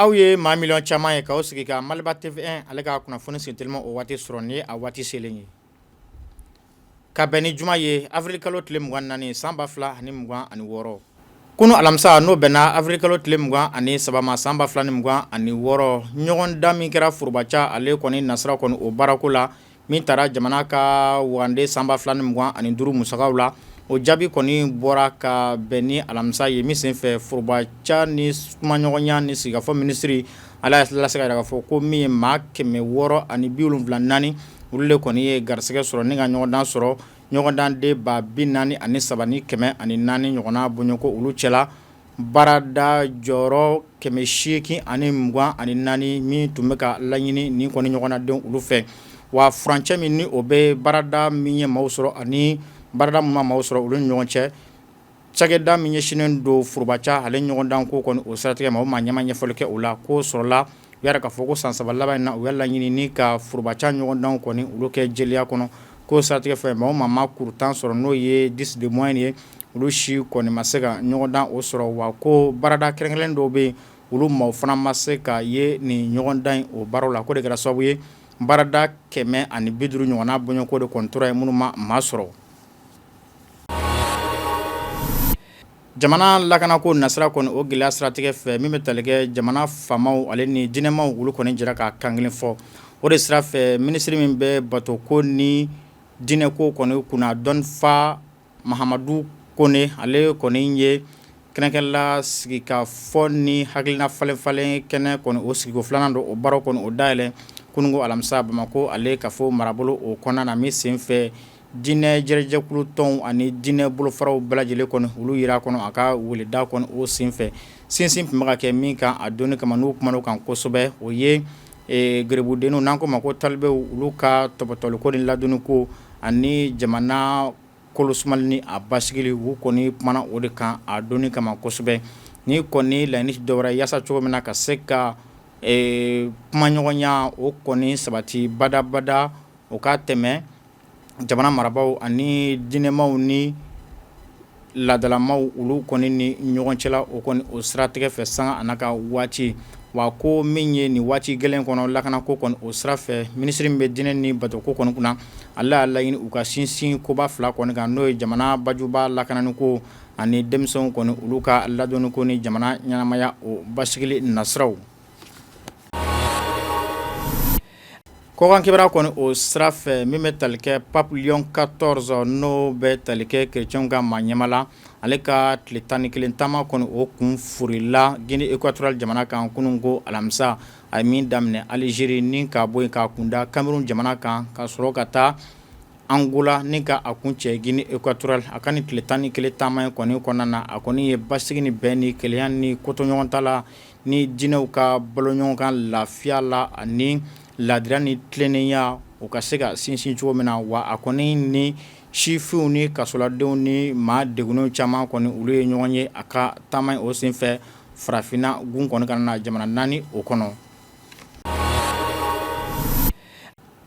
Aw ye maa miliyɔn caman ye k'aw sigi ka Maliba TV ale ka kunnafoni senteliman o waati sɔrɔ ni ye a waati selen ye ka bɛn ni juma ye awirili kalo tile mugan ni naani san ba fila ani mugan ani wɔɔrɔ Kunun alamisa n'o bɛnna awirili kalo tile mugan ani saba ma san ba fila ni mugan ani wɔɔrɔ ɲɔgɔndan min kɛra foroba ca ale kɔni nasira kɔni o baarako la min taara jamana ka wagande san ba fila ni mugan ani duuru musakaw la o jaabi kɔni bɔra ka bɛn ni alamisa ye min senfɛ foroba ca ni kumaɲɔgɔnya ni sigikafɔ minisiri ale y'a lase ka yira k'a fɔ ko min ye maa kɛmɛ wɔɔrɔ ani biwolonfila ni naani olu de kɔni ye garisɛgɛ sɔrɔ ni ka ɲɔgɔndan sɔrɔ ɲɔgɔndanden ba bi naani ani saba ni kɛmɛ ani naani ɲɔgɔnna bɔɲɔgɔnko olu cɛla baarada jɔyɔrɔ kɛmɛ seegin ani mugan ani naani min tun bɛ ka laɲini ni kɔni ɲɔgɔndandenw olu fɛ wa furancɛ min ni o bɛ baarada min ye maaw sɔrɔ ani baarada min ma maaw sɔrɔ olu ni ɲɔgɔn cɛ Cakɛda min ɲɛsinnen don foroba ca ale ɲɔgɔndan ko kɔni o siratigɛ ma o maa ɲɛmaa ɲɛfɔli kɛ o la k'o sɔrɔla u y'a yira k'a fɔ ko san saba laban in na u y'a laɲini ni ka foroba ca ɲɔgɔndan kɔni olu kɛ jɛlenya kɔnɔ k'o siratigɛ fɛ maa o maa ma kuru tan sɔrɔ n'o ye dix de moyenne ye olu si kɔni ma se ka ɲɔgɔndan o sɔrɔ wa ko baarada kɛrɛnkɛrɛnnen dɔw bɛ yen olu maaw fana ma se ka ye nin ɲɔgɔndan in o baaraw la k'o de kɛra sababu ye baarada kɛmɛ ani bi duuru ɲɔgɔnna bɔɲɔgɔnko de kɔni tora yen minnu ma maa sɔrɔ Jamana lakana ko nasira kɔni o gɛlɛya siratigɛ fɛ min bɛ tali kɛ jamana faamaw ale ni diinɛmaw olu kɔni jɛra ka kan kelen fɔ o de sira fɛ minisiri min bɛ bato ko ni diinɛ ko kɔni kunna dɔnfa Mahamadu Kone ale kɔni ye kɛnɛ kelen lasigi ka fɔ ni hakilina falen falen kɛnɛ kɔni o sigiko filanan don o baara kɔni o dayɛlɛ kunun alamisa Bamakɔ ale kafo marabolo o kɔnɔna na min sen fɛ diinɛ jɛrɛjɛkulu tɔnw ani diinɛ bolofaraw bɛɛ lajɛlen kɔni olu yera kɔni a ka weleda kɔni o senfɛ sinsin tun bɛ ka kɛ min kan a don kama n'u kumana o kan kosɛbɛ o ye garibudenw n'an k'o ma ko talibew olu ka tɔpɔtɔliko ni ladonni ko ani jamana kolosumali ni a basigili u kɔni kumana o de kan a don kama kosɛbɛ ni kɔni laɲini dɔwɛrɛ yaasa cogo min na ka se ka kumaɲɔgɔnya o kɔni sabati badabada o ka tɛmɛ jamana marabaaw ani diinɛmaw ni laadalamaw olu kɔni ni ɲɔgɔn cɛla o kɔni o siratigɛ fɛ sanga a n'a ka waati wa ko min ye nin waati gɛlɛn kɔnɔ lakana ko kɔni o sira fɛ minisiri min bɛ diinɛ ni batoko kɔni kunna ale y'a laɲini u ka sinsin koba fila kɔni kan n'o ye jamana bajuba lakananiko ani denmisɛnw kɔni olu ka ladonniko ni jamana ɲɛnamaya o basigili nasiraw Kɔkan kibaru kɔni o sira fɛ min bɛ tali kɛ Pape Léon quatorze n'o bɛ tali kɛ kerecɛnw ka maa ɲɛmaa la ale ka tile tan ni kelen taama kɔni o kun furila Guinée équatoriale jamana kan kunun ko alamisa a ye min daminɛ Algérie ni ka bɔ yen ka kunda Cameroun jamana kan ka sɔrɔ ka taa Angola ni ka a kuncɛ Guinée équatoriale a ka nin tile tan ni kelen taama in kɔni kɔnɔna na a kɔni ye basigi ni bɛn ni kelenya ni kotoɲɔgɔntala ni diinɛw ka baloɲɔgɔnkan lafiya la ani ladira ni tilennenya u ka se ka sinsin cogo min na wa a kɔni ni sifinw ni kasoladenw ni maa degunnenw caman kɔni olu ye ɲɔgɔn ye a ka taama o senfɛ farafinna gun kɔni kɔnɔna na jamana naani o kɔnɔ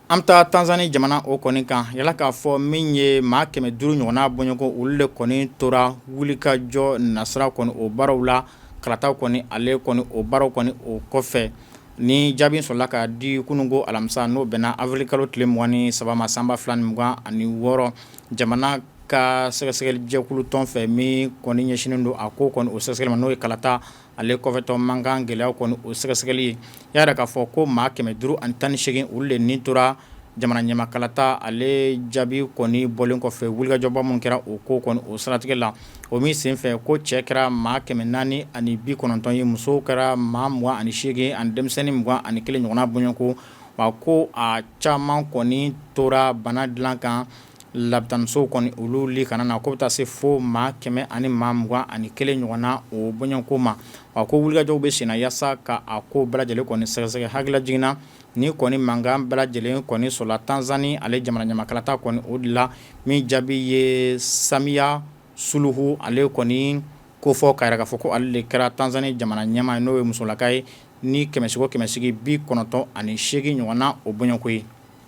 An bɛ taa tanzani jamana o kɔni kan yala k'a fɔ min ye maa kɛmɛ duuru ɲɔgɔnna bɔɲɔgɔnko olu de kɔni tora wulikajɔ nasira kɔni o baaraw la kalata kɔni ale kɔni o baaraw kɔni o kɔfɛ ni jaabi sɔrɔla ka di kunun ko alamisa n'o bɛnna awirili kalo tile mugan ni saba ma san ba fila ni mugan ani wɔɔrɔ jamana ka sɛgɛsɛgɛli jɛkulutɔn fɛ min kɔni ɲɛsinnen don a ko kɔni o sɛgɛsɛgɛli ma n'o ye kalata ale kɔfɛtɔ mankan gɛlɛyaw kɔni o sɛgɛsɛgɛli ye y'a yira k'a fɔ ko maa kɛmɛ duuru ani tan ni seegin olu de ni tora jamana ɲɛmaa kalata ale jaabi kɔni bɔlen kɔfɛ wulikajɔba minnu kɛra o ko kɔni o siratigɛ la o min senfɛ ko cɛ kɛra maa kɛmɛ naani ani bi kɔnɔntɔn ye musow kɛra maa mugan ani seegin ani denmisɛnnin mugan ani kelen ɲɔgɔnna bɔɲɔgɔnko wa ko a caman kɔni tora bana dilan kan Labitanisow kɔni olu le kɔnɔna na ko bɛ taa se fo maa kɛmɛ ani maa mugan ani kelen ɲɔgɔn na o bɔɲɔgɔnko ma a ko wulikajɔw bɛ senna yaasa ka a ko bɛɛ lajɛlen kɔni sɛgɛsɛgɛ hakililajigin na nin kɔni mankan bɛɛ lajɛlen kɔni sɔrɔla tanzani ale jamana ɲɛmaa kalata kɔni o de la min jaabi ye Samiya Suluhu ale kɔni kofɔ k'a yira k'a fɔ ko ale de kɛra tanzani jamana ɲɛmaa n'o ye musolaka ye ni kɛmɛsigi o kɛmɛsigi bi kɔnɔntɔn ani seegin ɲɔgɔn na o bɔɲɔgɔnko ye